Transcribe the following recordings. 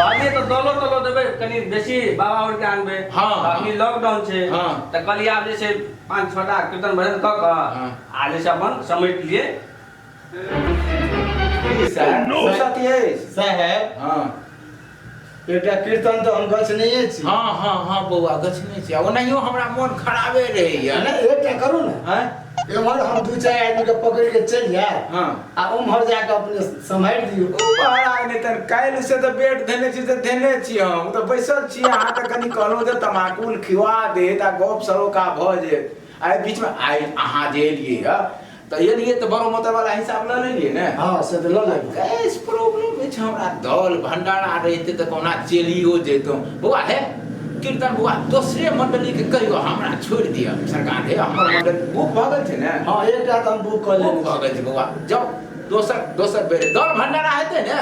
कहलिए तो दलो तलो देबे कनी बेसी बाबा और के आनबे हां अभी लॉकडाउन छे हां त कहलिए आप जे छे पांच छटा कीर्तन भजन क क हां। आ जे छे अपन समेट लिए साहेब हां एकटा कीर्तन तऽ हम गछ नहिए छी हँ हँ हँ बौआ गछने छी ओनाहियो हमरा मोन खराबे रहैया नहि एकटा करू ने आँय एम्हर हम दू चारि आदमी के पकड़ के चलि जायब हाँ। आ उम्हर जाके अपने सम्हारि दियौ महाराज ने तन काल्हि से तऽ बेट धेने छी से धेने छी हम ओ तऽ बैसल छी अहाँ तऽ कनि कहलहुँ जे तमाकुल खिवा देत आ गप सरोका भऽ जेत आ एहि बीचमे आइ अहाँ जे एलियै हँ तऽ एलियै तऽ बड़ो मोटर वाला हिसाब लऽ लेलियै ने हँ से तऽ लऽ लेबै गैस प्रॉब्लम अछि हमरा दल भंडारा रहिते तऽ कोना चलियो जैतहुँ बौआ हे कीर्तन बौआ दोसरे मंडली के कहियो हमरा छोड़ दिया सरकार हे हमर मंडल बुक भ गेल छै ने हां एकटा त हम बुक क ले भ गेल छै बौआ जाओ दोसर दोसर बेर दर भंडारा हेते ने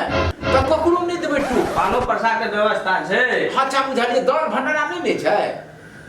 त ककरो नै देबै टू पानो प्रसाद के व्यवस्था छै अच्छा बुझलिए दर भंडारा नै ने छै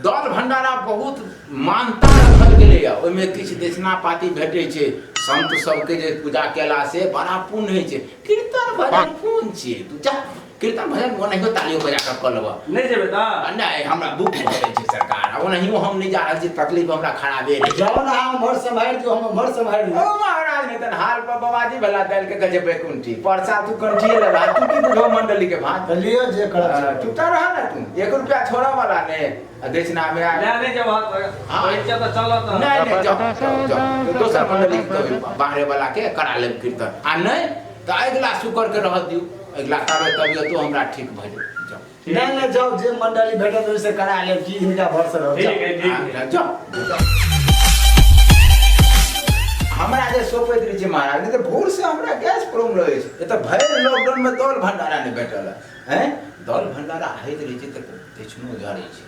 दर भंडारा बहुत मानता रखल गेलै है ओमे किछ देशना पाती भेटै छै संत सब के जे पूजा केला से बड़ा पुण्य होइ छै कीर्तन भजन कोन छियै तू जा कीर्तन भजन ओनाहियो तालियो बजा कऽ कऽ लेबऽ नहि जेबै तऽ आ नहि हमरा दुख भऽ गेल छै सरकार आ ओनाहियो हम नहि जा रहल छी तकलीफ हमरा खराबे रहै जाओ ना हम मर सम्हारि दियो हम मर सम्हारि ओ लियो महाराज ने तन हाल पर बाबाजी भला दल के गजे बैकुंठी परसा तू कंठिए लगा तू की बुझो मंडली के भात तऽ लियो जे करब से करब। चुपता रह ना तू एक रुपया छोड़ा वाला ने आ दक्षिणा में आ लए नहि जेबह तऽ हाँ। कहै छियै तऽ चलऽ तऽ नहीं नहीं जाओ, जाओ, जाओ। दोसर मंडली के कहियो बाहरे वाला के करा लेब कीर्तन आ नहीं तऽ अगिला शुक्रके रहऽ दियौ अगिला ताबे तबियतो हमरा ठीक भऽ जाउ जाउ ठीक नहि नहि जाउ जे मंडली भेटत ओहिसँ करा लेब की हिनका भरसँ रहब ठीक जाउ। है ठीक आ, है जाउ हमरा जे सोपैत रहै छै महाराज नहि तऽ भोरसँ हमरा गैस प्रॉब्लम रहै छै एतऽ भरि लॉकडाउनमे दौल भंडारा नहि भेटल हैं दौल भंडारा होइत रहै छै तऽ दक्षिणो जड़ै छै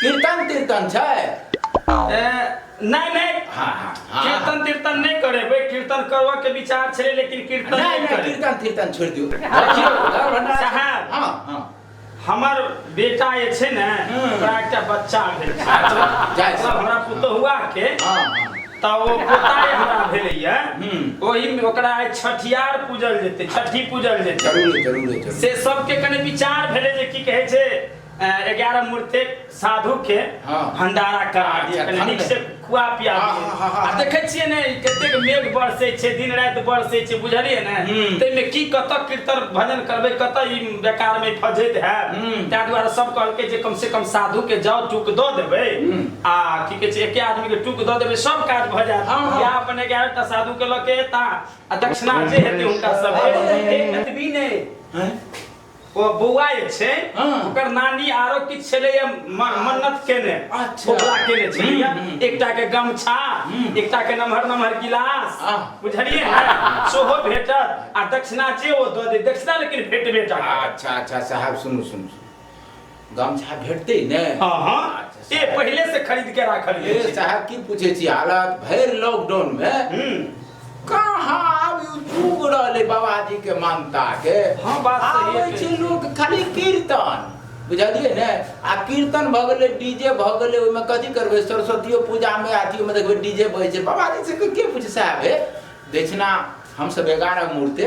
कीर्तन तीर्तन छै नहि नहि हाँ, हाँ, हाँ। कीर्तन तीर्तन नहि करेबै कीर्तन करबऽ के विचार छलै लेकिन कीर्तन नहि नहि करेबै। कीर्तन तीर्तन छोड़ि दियौ देखियौ, घर भंडारा- साहब। हाँ, हाँ। हमर बेटा जे छै ने हम्म। ओकरा एकटा बच्चा भेल छै अच्छा, जाइ छै। मतलब हमरा पुतहुआ के हाँ, हाँ। तऽ ओ पोता जे हमरा भेलैया हम्म। ओहिमे ओकरा आइ छठियार पूजल जेतै छठी पूजल जेतै जरूर जरूर जरूर से सबके कने विचार भेलै जे की कहै छै एगारह मूर्ति साधु के हाँ। भंडारा करा अच्छा, दिए कनी ठंडे। नीक से खुआ पिया हाँ, दिए हाँ, हाँ, हाँ। आ देखै छियै ने कतेक मेघ बरसै छै दिन राति बरसै छै बुझलियै ने हम्म। ताहिमे की कतऽ कीर्तन भजन करबै कतऽ ई बेकार में फजैत है हम्म। ताहि दुआरे सब कहलकै जे कम से कम साधु के जाउ टूक दऽ देबै हम्म। आ की कहै छै एके आदमी के टूक दऽ देबै सब काज भऽ जायत हाँ, हाँ। या अपन एगारह टा साधु के लऽ के एता आ दक्षिणा जे हेतै हुनका सब एतबी नहि हैं? ओ बौआ जे छै हाँ। ओकर नानी आरो किछु छलैया म- मन्नत केने अच्छा। बोला केने छलैया हम्म, हम्म। एकटा के गमछा हम्म। एकटा के नमहर नमहर गिलास आह। बुझलियै ने सेहो भेटत आ दक्षिणा जे ओ दऽ दे दक्षिणा लेकिन भेट भेटत अच्छा अच्छा साहब सुनू सुनू सुनू। गमछा भेटते ने हाँ हाँ अच्छा, ए पहले से खरीद के राखल ए, गेल छै। साहब की पूछे छी हालत भैर लॉकडाउन में हम्म, कहाँ आब ई जुग रहले बाबाजी के मानता के हाँ, बात सही है। आबै छै लोग खाली कीर्तन बुझलियै ने आ कीर्तन भऽ गेलै डीजे भऽ गेलै ओहिमे कथी करबै सरस्वतियो पूजामे अथियोमे देखबै डीजे बजै छै बाबाजी से के पूछे साहब हे दक्षिणा हमसभ एगारह मूर्ति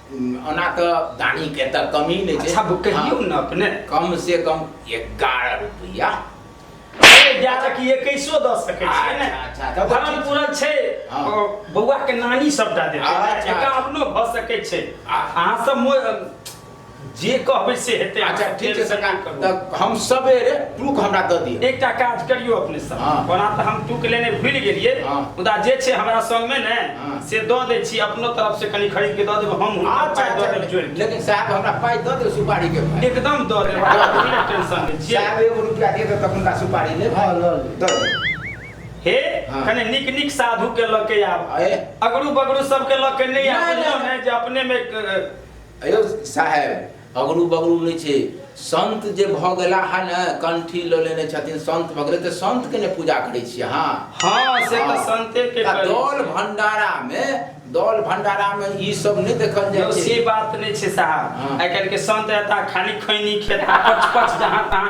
ओना तऽ दाढ़ी के तऽ कमी नहि छै अच्छा कहियौ ने अपने कम से कम एगारह रुपया एकैसो दऽ सकै छियै ने अच्छा, अच्छा, धर्म पूरा छै हाँ। बौआ के नानी सबटा देतै अच्छा, एका अच्छा। अपनो भऽ सकै छै आ- अहाँ सब मो- जे कहबै से हेतै अच्छा ठीक छै सरकार तऽ हम सबेरे टूक हमरा दऽ दिअ एकटा काज करियो अपने सब हाँ। ओना तऽ हम टूक लेने भूल गेलिए हाँ। मुदा जे छै हमरा संग में ने हाँ। से दऽ दै छी अपनो तरफ से कनी खरीद के दऽ देब हम हुनका अच्छा पाइ दऽ अच्छा देब जोड़ि के। लेकिन साहब हमरा पाइ दऽ दिअ सुपारी के पाइ एकदम दऽ देब अहाँ बिना टेंशन लै छियै साहब एगो रुपया दे देब तखन का सुपारी लेब हाँ, लऽ लेब। दऽ देब हे हाँ। कने नीक नीक साधु के लऽ के आब अरे। अगरू बगरू सबके लऽ के नहि आब नहि, बुझलहुँ नहि। ने जे अपने में अ, अयो साहेब अगरू बगरू नहि छै संत जे भऽ गेला है ने कंठी लऽ लेने छथिन संत भऽ गेलै तऽ संत के ने पूजा करै छी अहाँ हाँ से तऽ हाँ। संते के आ करी। दौल भंडारा मे दौल भंडारा मे ई सब नहि देखल यौ, जाइ से छै बात नहि छै साहब हाँ। आइ काल्हि के संत एता खाली खैनी खेता पच पच जहाँ तहाँ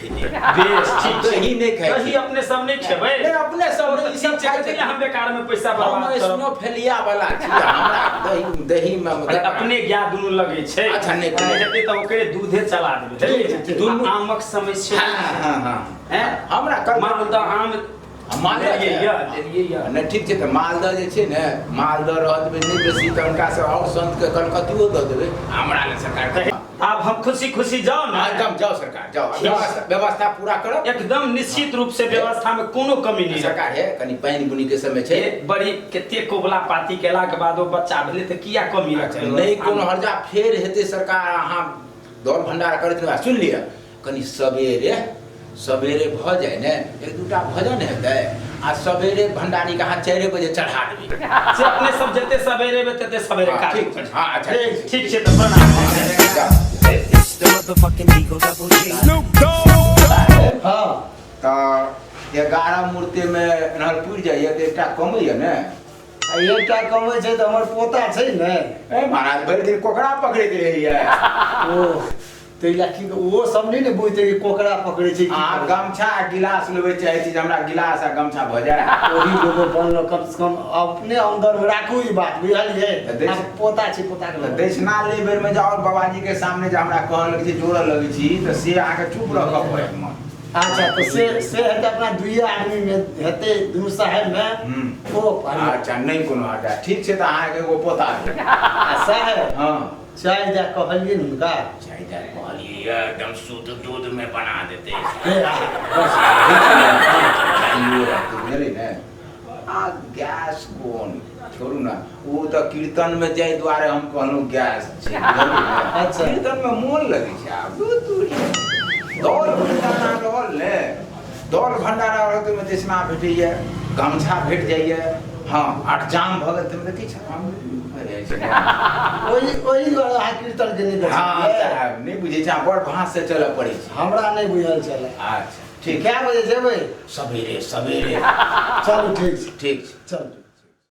ही नहीं खाए तो ही अपने सब नहीं खेबे नहीं अपने सब नहीं सब खाए थे हम बेकार में पैसा बर्बाद हम इसनो फेलिया वाला छी दही दही में मतलब अपने ज्ञा दुनु लगे छै अच्छा नहीं तो हेते त ओकरे दूधे चला देबे दुनु आमक समस्या हां हां हां हमरा कर मानू त आम आ मालदह जे देलियै यऽ, देलियै यऽ। नहि ठीक छै तऽ मालदह जे छै ने मालदह रहऽ देबै नहि बेसी तऽ हुनका से आओर सन्तके कलकतियो दऽ देबै आ हमरा लए सरकार तऽ कृपा आब हम खुशी खुशी जाउ ने हँ, एकदम जाउ सरकार जाउ आ व्यवस्था व्यवस्था पूरा करब एकदम निश्चित रूप से व्यवस्था में कोनो कमी नहीं रखा सरकार हे कनि पानि बुनी के समय छै हे बड़ी कते कोबला पाती केला के बाद ओ बच्चा भेले तऽ किया कमी रखते नहीं कोनो हर्जा फेर हेतै सरकार अहाँ दौड़ भंडार करैत रह सुनि लिअ कनि सबेरे सबेरे भऽ जाए ने एक दूटा भजन हेतै आ सबेरे भंडारी के हाथ चारि बजे चढ़ा देबै से अपने सब जते सवेरे में तते सवेरे हाँ, काज ठीक छै, हाँ, अच्छा, ए, ठीक छै। ठीक छै तऽ प्रणाम It's the motherfucking Eagle Double G. हाँ तऽ एगारह मूर्ति मे एनहर पुरि जाइए तऽ एकटा कमैए ने आ एकटा कमै छै तऽ हमर पोता छै ने ए महाराज भरि दिन कोकरा पकड़ैत रहैए ओ तै लए की ओ सब नहि ने बुझते कि कोकरा पकड़े छै आ गमछा आ गिलास लेबे चाहे छी जे हमरा गिलास आ गमछा भ जाय ओही लोगो बनलो कम से कम अपने अंदर में राखू ई बात बुझलिए आ पोता छी पोता के दक्षिणा ले बेर में जाओ बाबा जी के सामने जे हमरा कहल लगे छै जोड़ लगे छी त से अहाँ के चुप रह के पड़त मन अच्छा तो से से हेते अपना दुइए आदमी में हेते दुनू साहेब में हम्म। ओ अच्छा नहीं कोनो हटा ठीक छै त अहाँ के एगो पोता आ साहेब हां चाय दे कहलिए न हुनका चाय दे कहलिए एकदम शुद्ध दूध में बना देते आ गैस कोन छोड़ू ना वो तो कीर्तन में जाए द्वारे हम कहलू गैस छै अच्छा कीर्तन में मोन लगे छै आब दूर दूर दौड़ गाना रहल ने दौड़ भंडारा रहत ओहिमे देशना भेटैए गमछा भेट जाइए हँ आठ जाम भऽ गेल तैमे किछु हम ओहि ओहि दुआरे अहाँ कीर्तन के नहि हँ साहब नहि बुझै छै बड़ भाँस से चलऽ पड़ै छै हमरा नहि बुझल छल अच्छा ठीक कए बजे जेबै सबेरे सबेरे चलू ठीक छै ठीक छै चलू